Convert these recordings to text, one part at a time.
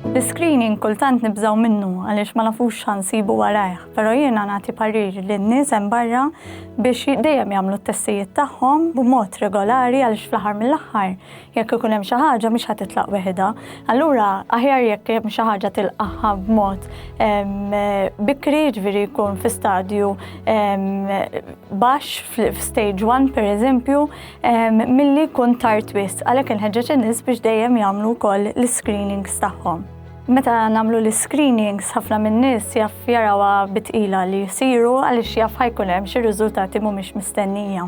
L-iscreening kultant nibżgħu minnu għaliex ma nafux x'ħansibu warajh, però jiena nagħti parir lin-nies hemm barra biex dejjem jagħmlu t-testijiet tagħhom b'mod regolari għaliex fl-aħħar mill-aħħar Jekk ikun hemm xi ħaġa mhix ħa titlaq weħidha. Allura aħjar jekk hemm xi ħaġa tilqaħħa b'mod bikri, ġifieri jkun fi stadju baxx f'stage 1 pereżempju, milli jkun tard wisq. Għalhekk inħeġġeġ in-nies biex dejjem jagħmlu wkoll l-iscreenings tagħhom. Meta nagħmlu l-iscreenings ħafna min-nies jaf jarawha bi tqila li jsiru għaliex jaf ħa jkun hemm xi riżultati mhumiex mistennija.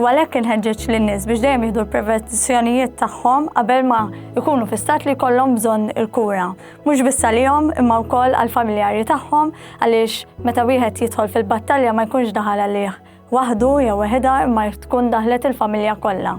u għalhekk inħeġġeġ lin-nies biex dejjem jieħdu l-prevenzjonijiet tagħhom qabel ma jkunu fi stat li jkollhom bżonn il-kura. Mhux biss għalihom imma wkoll għall-familjari tagħhom għaliex meta wieħed jidħol fil-battalja ma jkunx daħal għalih waħdu jew weħidha imma tkun daħlet il-familja kollha.